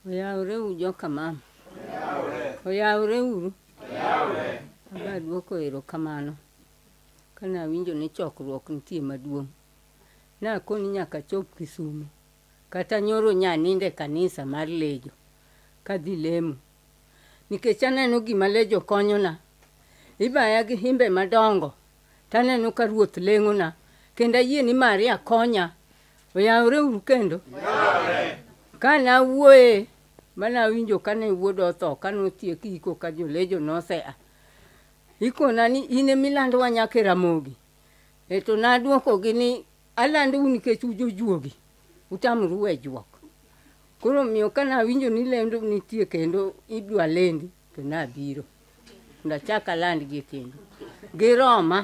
Oyawreuru joka mama. Oyawreuru. Aba duoko erokamano. Kane awinjo ni chokruok nitie maduong', nakoni nyaka achop Kisumo. Kata nyoro nyanindo e kanisa mar Lejo kadhi lemo. Nikech aneno gima Lejo konyona, ibaya gi himbe madongo taneno ka Ruoth leng'ona kendo ayie ni Maria konya. Oyawore uru kendo? Ka nawuoye ma nawinjo ka ne wuoda otho ka notiek iko ka jolejo nosea. Ikona ni in ema ilandowa nyaka e Ramogi. E to nadwokogi ni alandou nikech un jojuogi, utamoru we juok. Koro omiyo ka nawinjo ni lendo nitie kendo idwa lendi, To nabiro, ndachak alandgi kendo. Giroma,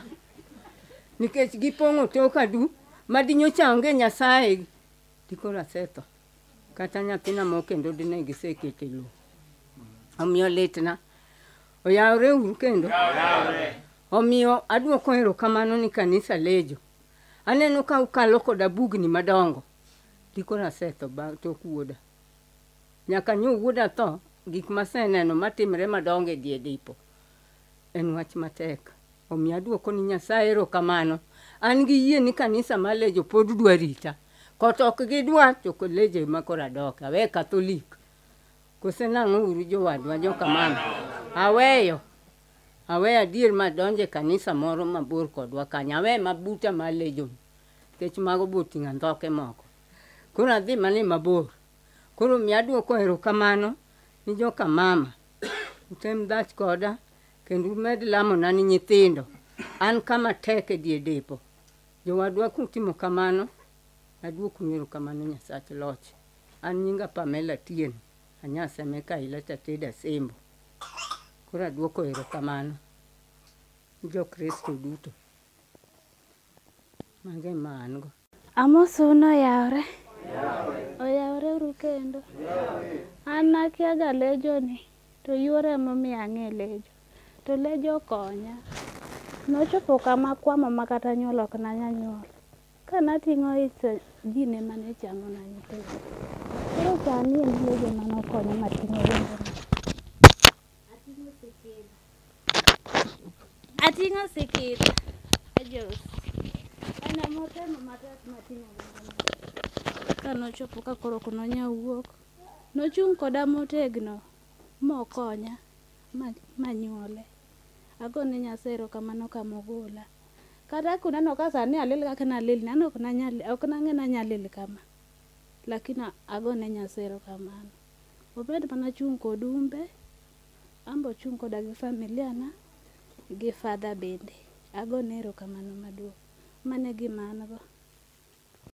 nikech gipong'o toka du, ma dinyocha onge Nyasaye, dikoro asetho. Kata nyathina moro kendo dine gisekete lo. Omiyo litna, oyawore uru kendo. Omiyo adwoko erokamano ni kanisa Lejo. Aneno ka ukalo koda bugni madongo, dikoro asetho bang' tok wuoda. Nyaka nyo wuoda tho, gik maseneno matimre madongo e die dipo. En wach matek. Omiyo aduoko ni Nyasaye erokamano. An gi yie ni kanisa ma Lejo pod dwa rita. Kot ok gidwa to Lejo ema koro adoke. Awe Katholik. Kose nang'o uru jowadwa jokamano. Aweyo. Aweyo adier ma adonjo e kanisa moro mabor kodwa kanyo. Awe ma buta ma Lejo ni. Nikech mago be oting'o andhoke moko. Koro adhi mana e mabor. Koro mi aduoko erokamano ni joka mama. Utem dhach koda kendo umed lamona ni nyithindo. An kama tek e die depo. Jowadwa kutimo kamano, aduoknu erokamano Nyasach Loch. An nyinga Pamela Atieno, a Nyasemeka Ileta Teda Sembo. Koro aduoko erokamano ni jo Kristo duto. Mago ema an go. Amosu noyawre. Oyawre uru kendo. An nakiaga lejoni to yuoro emomiyo ang'e lejo. To lejo okonya. Nochopo kama kwamo ma kata nyuol ok nanya nyuol. Ka nating'o ich to ji ne mane chamo na nyithindo. Koro sani en lejo mane okonya mating'o wengena. Ating'o sikira. Ating'o sikira. Ajos. Ana motemo matek mating'o ngimana. Ka nochopo ka koro ok nonya wuok, nochung' koda motegno mokonya ma, ma nyuole. Agone Nyasaye erokamano ka mogola. Kata kuneno ka sani alil kaka nalil, nano ok nanyal, ok nang'e nanyalil kama. Lakini agone Nyasaye erokamano. Obed mana achung' kod umbe, an be ochung' koda gi familia na gi Father bende. Agone erokamano maduong'. Mano e gima an go.